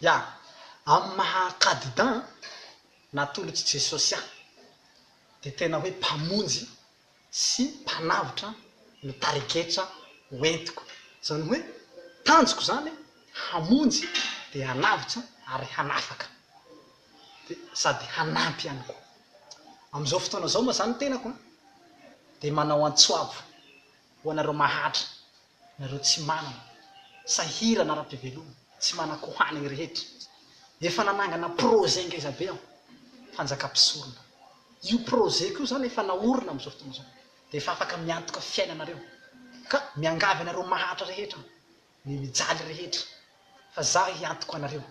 Ya, amin'ny maha Kadida an, natolotr'i Jesosy ahy, dia tena hoe Mpamonjy sy Mpanavotra no tarigetra hoentiko. Izany hoe, tanjoko izany hamonjy dia hanavotra ary hanafaka, dia sady hanampy ihany koa. Amin'izao fotoana izao moa izany ny tenako dia manao antsoabo ho anareo mahantra. Nareo tsy manana sahirana ara-piveloma, tsy manan-ko hanigny rehetra. Efa nanangana projet ngeza be aho, fanjaka mpisorona. Io projet-ko io zany efa naorina amin'izao fotoana izao, dia efa afaka miantoka fiainanareo. Ka miangavy anareo mahantra rehetra aho, ny mijaly rehetra, fa za hiantoko anareo.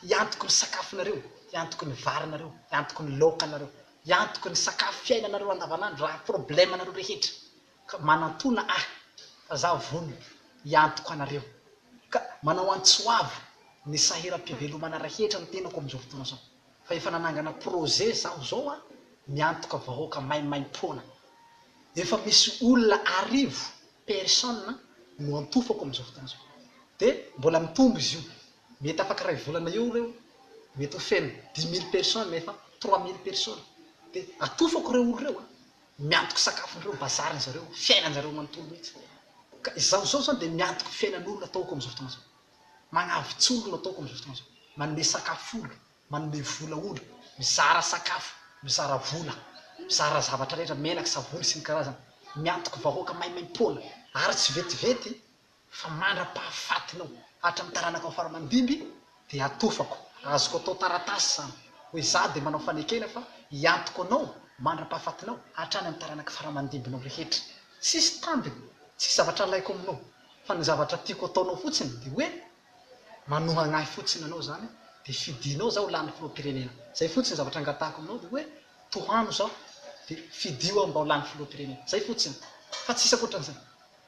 Hiantoko ny sakafonareo, hiantoko ny varinareo, hiantoko ny laokanareo, hiantoko ny sakafo fiainanareo andavanandro raha problème-nareo rehetra. Ka manantona ahy fa za vono hiantoko anareo ka manao antsoavo ny sahiram-pivelomana rehetra ny tenako amin'izao fotoana izao fa efa nanangana projet zaho zao a miantoka vahoaka maimaimpoana efa misy olona arivo personne no antofako amin'izao fotoana izao de mbola mitombo izy io mety afaka iray volana eo ireo mety ho feno dix mille personne efa trois mille personne de atofako ireo olona ireo a. Miantoka sakafon'ireo bazary ny zareo, fiainan zareo manontolo mihitsy. Ka izaho izao izany dia miantoka fiainan'olona ataoko amin'izao fotoana izao. Magnavitsy olo no ataoko amin'izao fotoana izao. Manome sakafo olo, manome vola olo, mizara sakafo, mizara vola, mizara zavatra rehetra, menaka, savony sy ny karazany. Miantoka vahoaka maimaimpoana, ary tsy vetivety Fa mandra-pahafatinao, hatramin'ny taranakao fara-mandimby, dia hatofako, azoko atao taratasy izany, hoe izaho dia manao fanekena fa hiantoko anao mandra-pahafatinao, hatrany amin'ny taranaka fara-mandimbinao rehetra. Tsisy tambiny, tsisy zavatra alaiko aminao, fa ny zavatra tiako ataonao fotsiny dia hoe manohagna ahy fotsiny anao izany, dia fidianao izaho ho lany filoham-pirenena. Izay fotsiny ny zavatra angatahako aminao, dia hoe tohano izaho, dia fidio aho mba ho lany filoham-pirenena. Izay fotsiny, fa tsisy ankoatran'izay.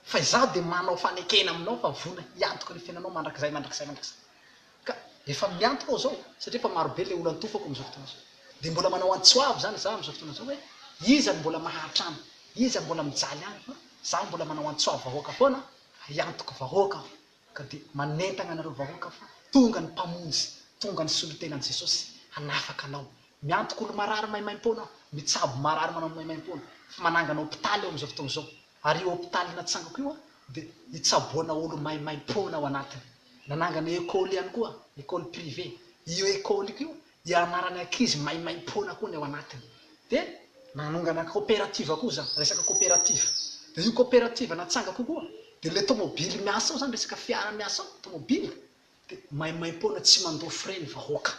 Fa izaho dia manao fanekena aminao fa vonona hiantoka ny fiainanao mandrakizay, mandrakizay, mandrakizay. Ka efa miantoka aho izao, satria efa maro be ilay olona antofako amin'izao fotoana izao. Dia mbola manao antso avo izany izaho amin'izao fotoana izao hoe, iza no mbola maharitra any, iza no mbola mijaly any, fa izaho mbola manao antso avo vahoaka foana, hiantoka vahoaka aho, ka dia manentana anareo vahoaka fa tonga ny Mpamonjy, tonga ny Solontenan'i Jesosy hanafaka anao. Miantoka olo-marary maimaim-poana aho, mitsabo marary manao maimaim-poana, efa manangana hopitaly aho amin'izao fotoana izao. Ary io hopitaly natsangako io dia nitsaboana olo-maimaimpoana ao anatiny. Nanangana ekoly ihany koa, ekoly privé. Io ekoliko io ianarana ankizy maimaimpoana koa ny ao anatiny. Dia nanongana koperativa koa za, resaka koperativa. Dia io koperativa natsangako io koa dia ilay tomobily miasa ao izany, resaka fiara miasa ao, tomobily. Dia maimaimpoana tsy mandoa frais ny vahoaka.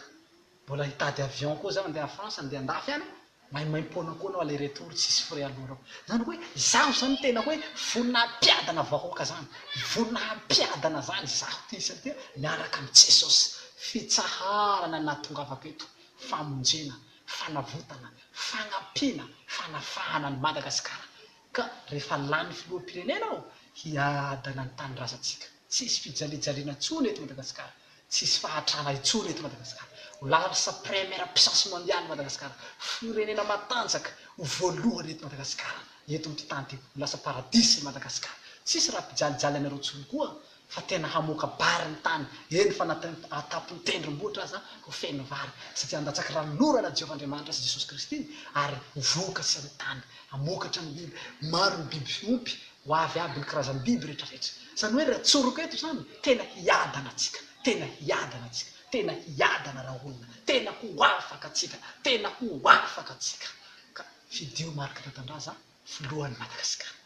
Mbola hitady avion koa zaho andeha France andeha andafy any a! Maimaimpoana koa anao aller retour tsisy frais aloha reo. Zany hoe izaho zany tena hoe vonona hampiadana vahoaka zany. Vonona hampiadana zany izaho ty satria miaraka amin'i Jesosy. Fitsaharana no nahatongavako eto. Famonjena, fanavotana, fagnampiana, fanafahana an'i Madagasikara. Ka rehefa lany filoham-pirenena aho hiadana ny tanindrazantsika. Tsy hisy fijalijaliana intsony eto Madagasikara. Tsy hisy fahatrana intsony eto Madagasikara. Ho larsa première puissance mondiale Madagasikara. Firenena matanjaka ho voalohany eto Madagasikara, eto amin'ity tany ity. Ho lasa paradisa i Madagasikara. Tsy hisy raha mpijalijaly anareo intsony koa fa tena hamoaka bary ny tany, eny fa na an-tampon'ny tendrombohitra aza ho feno vary, satria handatsaky ranon'orana Jehovah Andriamanitra sy Jesosy Kristy, ary ho vokatry ny tany hamokatra ny biby, maro ny biby fiompy, ho avy aby ny karazam-biby rehetrarehetra. Izany hoe raha tsoriko eto izany, tena hiadana antsika, tena hiadana antsika, tena hiadana raha olona, tena ho afaka antsika, tena ho afaka antsika, ka fidio mariky Ratandraza filohan'i Madagasikara.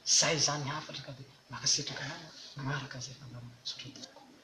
Izay izany hafatra ka dia mankasitraka anao manaraka izay fandaharanao misaotra tompoko.